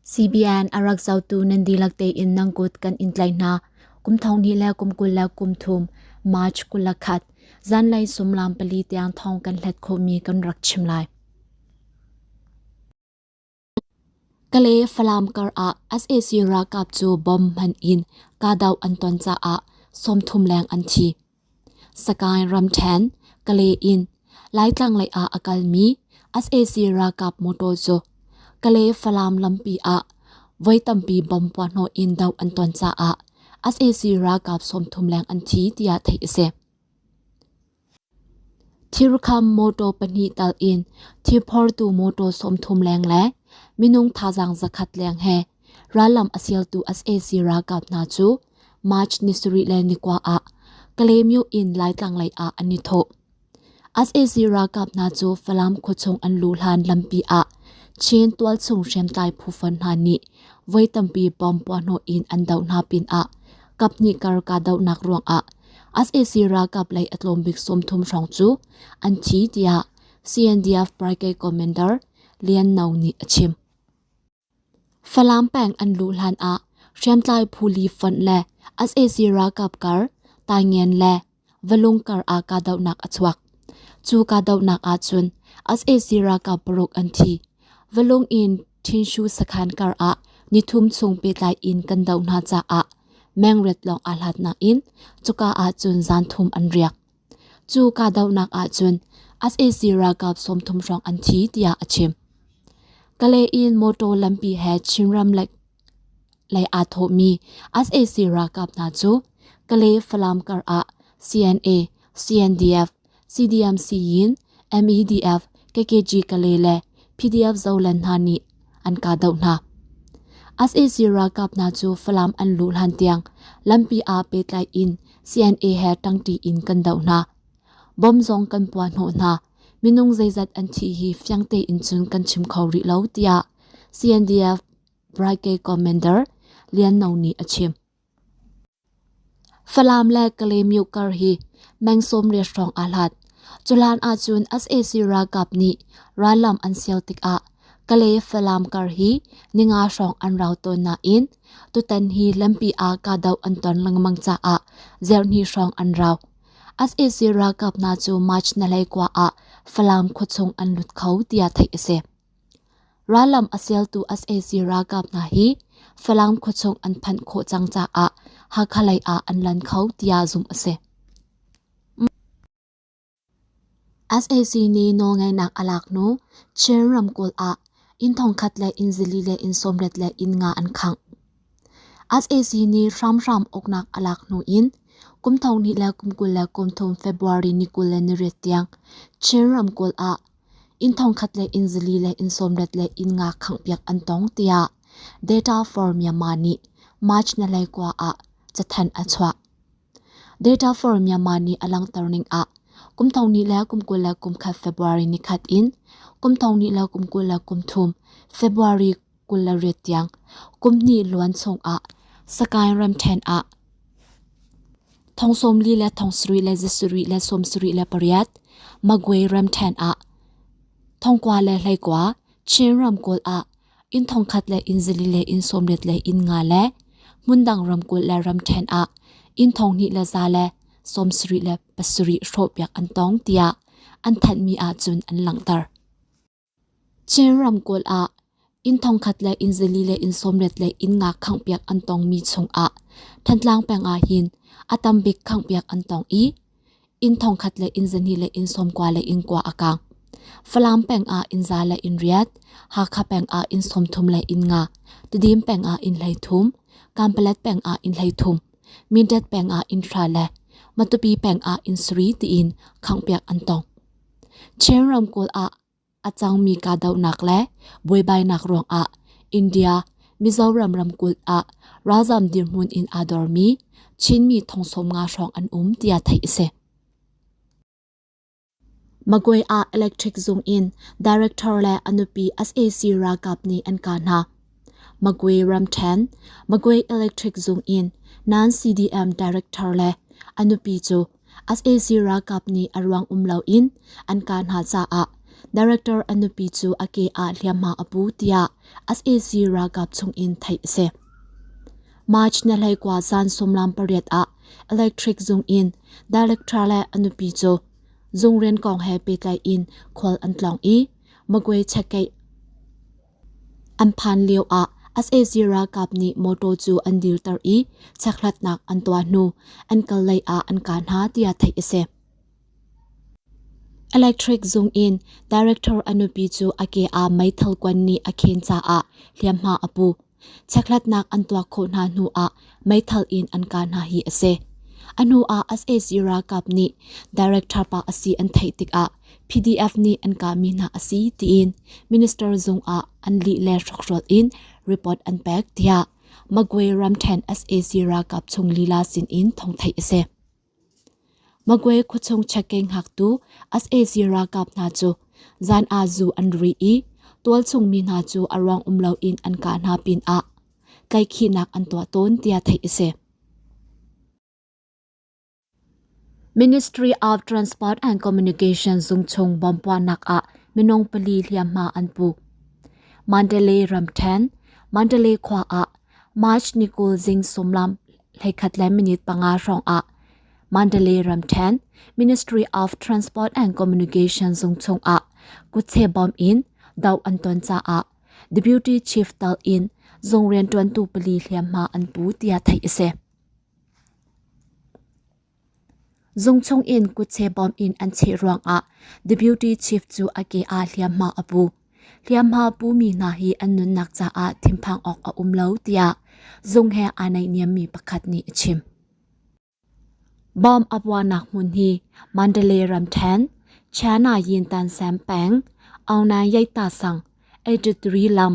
CBN a rak zotu nan dihlak tein nang kut kan in tlai hna. Kum thong hnih le kum kul le kum thum March kul le khat zanlei sumlam pali tiang thong kan hlet khawhmi kan rak chim lai. Kale Falam kar ah SAC ralkap cu bomb hman in kahdoh an ton caah sawmthum leng an thi. Sagaing ramṭhen, Kale in Laitlanglei ah a kalmi sac ralkap motor cu Kale Falam lampi ah voi tampi bom puahhnawh in doh an ton caah sac ralkap sawmthum leng an thi tiah theih a si. Thirkham motor pahnih tal in thirphortu motor sawmthum leng le minung thazaang zakhat leng he Rallam a sialtu sac ralkap hna cu March ni sarih le ni kwa ah Kalaymyo in Laitlang lei ah an i thawh. sac ralkap hna cu Falam khuachung an luh hlan lampi ah Chin tualchung hriamtlai phufen hna nih voi tampi bom puahhnawh in an doh hna pinah kaphnih kar kahdohnak ruangah sac ralkap lei a tlawmbik sawmthum hrawng cu an thi tiah CNDF party commander Lian No nih a chim. Falam peng an luh hlanah hriamtlai phu li fonh le sac ralkap kar taingian le valung kar ah kahdohnak a chuak. Cu kahdohnak ahcun sac ralkap paruk an thi. Valung in Thinshu sakhan kar ah nithum chung pehtlai in kan doh hna caah mengret lawng aa hlatnak in cuka ahcun zan thum an riak. Cu kahdohnak ahcun sac ralkap sawmthum hrawng an thi tiah a chim. Kalayin mawtaw lampi he Chinram lei aa thawhmi sac ralkap hna cu Kale Falam kar ah CNA, CNDF, CDM-Siyin, MEDF, KKG Kale le PDF Zoland hna nih an kahdoh hna. SAC ralkap hna cu Falam an luh hlan tiang lampi ah pehtlai in CNA he ṭangṭi in kan doh hna. Bom zong kan puah hnawh hna. Minung zeizat an thi hi fiang tein cun kan chim kho rih lo, tiah CNDF Brigade Commander Lian No nih a chim. Falam le Kalaymyo kar hi meng sawmriat hrawng aa hlat. Cuhlan ahcun sac ralkap nih rallam an sial tikah Kalay-Falam kar hi ninga hrawng an rau tawn nain tutan hi lampi ah kahdoh an ton lengmang caah zerhni hrawng an rau. sac ralkap hna cu March nalei kua ah Falam khuachung an lut kho tiah theih a si. Rallam a sialtu sac ralkap hna hi Falam khuachung an phanh khawh cang caah Hakha lei ah an lan kho tiah zumh a si. sac nih nawlngaihnak a lak hnu Chin ramkulh ah inn thongkhat le inn zili le inn sawmret le inn nga an khangh. sac nih hramhram uknak a lak hnu in kum thong hnih le kum kul le kum thum February ni kul le ni riat tiang Chin ramkulh ah Inn thongkhat le inn zili le inn sawmlet le inn nga khanghpiak an tong tiah Data for Myanmar nih March nalei kua ah cathanh a chuah. Data for Myanmar nih a langhter ning ah kum thong ni le kum kul le kum khat February ni khat in kum thong ni le kum kul le kum thum February kul le riat tiang kum hnih luan chungah sakain ramṭhen ah thong sawmli le thong sarih le zasarih le sawmsarih le pariat magway ramṭhen ah thongkua le hleikua chin ramkulh ah inn thongkhat le inn zali le inn sawmriat le inn nga le hmundang ramkulh le ramṭhen ah inn thonghnih le za le sawmsarih le pasarih hrawhpiak an tong tiah an thanhmi ahcun an langhter. Chin ramkulh ah inn thongkhat le inn zili le inn sawmlet le inn ngak khanghpiak an tongmi chungah Thantlang peng ah hin a tam bik khanghpiak an tong i inn thongkhat le inn zani le inn sawmkua le inn kua a kaang. Falam peng ah inn za le inn riat, Hakha peng ah inn sawmthum le inn nga, Tedim peng ah inn hleithum, Kanpalet peng ah inn hleithum, Mindat peng ah inn hra le Matupi peng ah inn sari tiin khanghpiak an tong. Chin ramkulh ah a cangmi kahdohnak le buaibainak ruangah India, Mizoram ramkulh ah ralzam dirhmun in aa dormi Chinmi thong-sawm nga hrawng an um tiah theih a si. Magway ah electric zung in director le a nupi sac ralkap nih an kah hna. Magway ramṭhen, Magway electric zung in nan CDM director le a nupi cu sac ralkap nih a ruang um loin an kaa hna caah director an nupi cu a ke ah hliamhma a pu tiah sac ralkap chungin theih a si. March na hleikua zan sumlam pariat ah electric zung in director le a nupi cu zung rian kong he pehtlai in khual an tlong i magwe chekkeih An phan lioah sac ralkap nih mawṭaw cu an dirter i chekhlatnak an tuah hnu an kallei ah an kah hna tiah theih a si. Electric zung in director a nupi cu a ke ah meithal kuan nih a khen caah hliamhma a pu. Chekhlatnak an tuah khawh hna hnu ah meithal in an kah hna hi a si. A hnu ah sac ralkap nih director pa a si an theih tikah PDF nih an kahmi hna a si tiin minister zung ah an lih le hrokhrol in report an pek tiah Magway ramthen SAC ralkap chung lila sin in thongthai a si. Magway khuachung chekke ngaktu SAC ralkap hna cu zan a zu an ri i tualchung mi hna cu a ruang um lo in an ka hna pin ah tlaikhinak an tuah tawn tiah theih a si. Ministry of Transport and Communication zungchung bompuannak ah minung pali hliamhma an pu. Mandalay ramthen, Mandalay khua ah March ni kul zing sumlam leikhat le minute panga hrawng ah Mandalay ramthen Ministry of Transport and Communication zungchung ah kutse bom in doh an ton caah Deputy Chief Tal in zung riantuantu pali hliamhma an pu tiah theih a si. Zungchung in kutse bawm in an cheh ruangah The Beauty Chief cu a ke ah hliamhma a pu. Hliamhma pumi hna hi an nunnak caah thinphang awk a um lo tiah zung he aa naihniammi pakhat nih a chim. Bawm a puanak hmun hi Mandalay ramṭhen, China Yintan Sam peng, Aung Nan Yeta sang, 8-3 lam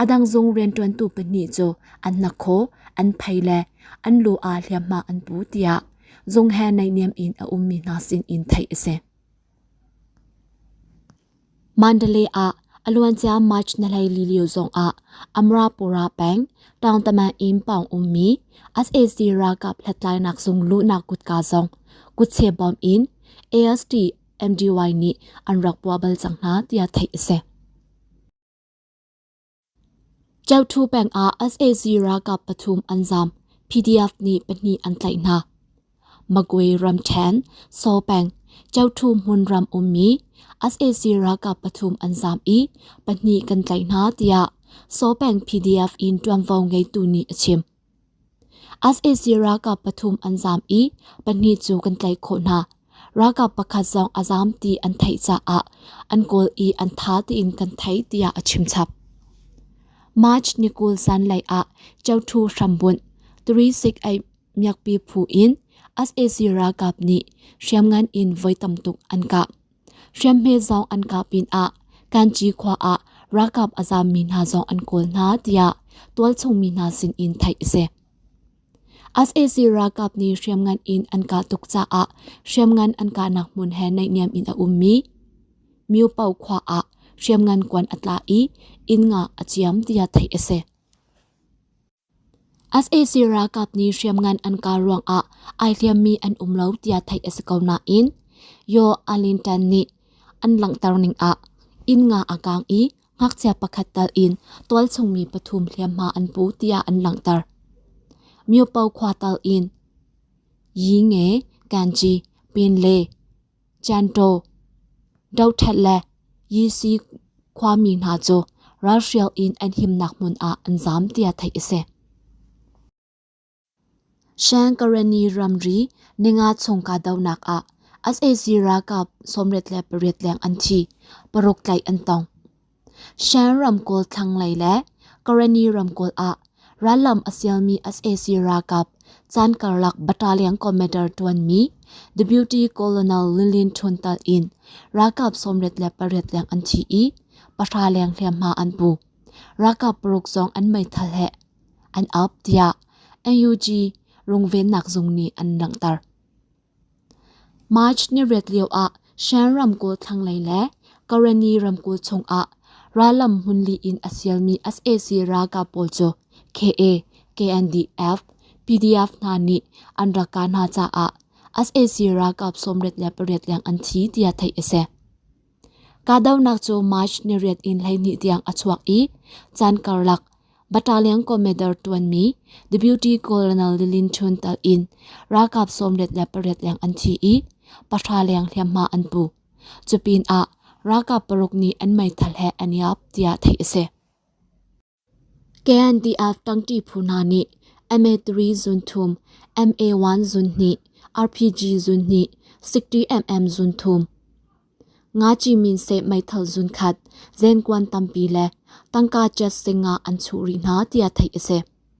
A dang zung rianṭuantu pahnih cu an hnakhaw, an phei le an lu ah hliamhma an pu tiah zung he naihniam in a ummi hna sinin theih a si. Mandalay ah a luancia March na hleili lio zongah Amrapura peng Tangtaman in pawng ummi SAC ralkap hlathlainak zung luhnak kutka zong kutche bom in AST MDY nih an rak puah bal cang hna tiah theih a si. Kyauthu peng ah sac ralkap pathum an zaam, PDF nih pahnih an tlaih hna. Magway ramṭhen, Saw peng, Kyauthu hmun ram ummi sac ralkap pathum an zaam i pahnih kan tlaih hna, tiah Saw peng PDF in ṭuanvo ngeitu nih a chim. sac ralkap pathum an zaam i pahnih cu kan tlaih khawh hna. Ralkap pakhat zong a zaam ti an theih caah an kawl i an tha tein kan thei tiah a chimchap. March ni kul sanlei ah Chaoṭhu hrambunh turisik ei miakpi phu in sac ralkap nih hriamngan in voi tam tuk an kah. Hriamhme zong an kah pinah Kanci khua ah ralkap a zammi hna zong an kawl hna tiah tualchungmi hna sinin theih a si. SAC ralkap nih hriamngan in an kah tuk caah hriamngan an kahnak hmun he naihniam in a ummi Myopo khua ah hriamngan kuan a tla i inn nga a ciam tiah theih a si. sac ralkap nih hriamngan an kaar ruangah ai hliammi an um lo tiah theih a si ko nain Yaw Alintan nih an langhter ning ah inn nga a kaang i ngakchia pakhat tal in tualchungmi pathum hliamhma an pu tiah an langhter. Myopo khua tal in Yinge, Ganji, Pin le Chantaw, Dothlat le Yisi khuami hna cu ralhrial in an himnak hmun ah an zaam tiah theih a si. Shankarani ramri ninga chung kahdohnak ah as a ralkap sawmriat le pariat leng an thi, paruk tlaih an tong. Shan ramkulh thlanglei le Karani ramkulh ah rallam a sialmi sac ralkap caan karlak battalion commander ṭuanmi Deputy Colonel Lilin Ṭhun Tal in ralkap sawmrit le pariat leng an thi i pahra leng hliamhma an pu. Ralkap paruk zong an meithal he an up tiah NUG rungvennak zung nih an langhter. March ni riat lioah Shan ramkulh thlanglei le Kareni ramkulh chungah rallam hmun li in a sialmi sac ralkap pawl cu KA, KNDF, PDF hna nih an rak kah hna caah sac ralkap sawmriat le pariat leng an thi tiah theih a si. Kahdohnak cu March ni riat in hleihnih tiang a chuak i caan karlak battalion commander ṭuanmi Deputy Colonel Lilin Chun tal in ralkap sawmriat le pariat leng an thi i pahra leng hliamhma an pu. Cupinah ralkap paruk nih an meithal he an i ap tiah theih a si. KNDF tangṭi phu hna nih MA3 zun thum, MA1 zun hnih, RPG zun hnih, 60mm zun thum, Nga Ci-min-seh meithal zun khat, zenkuan tampi le tangka jet sing ah an chuh rih hna tiah theih a si.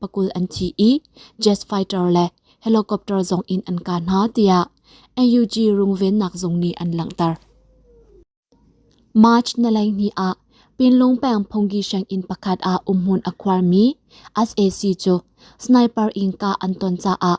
pakul an thi i jet fighter le helicopter zong in an ka hna tiah NUG rungvennak zung nih an langhter. March nalaini ah Pinlung peng Phonggi sheng in pakhat ah umhmun a khuarmi SAC cu sniper in ka an ton caah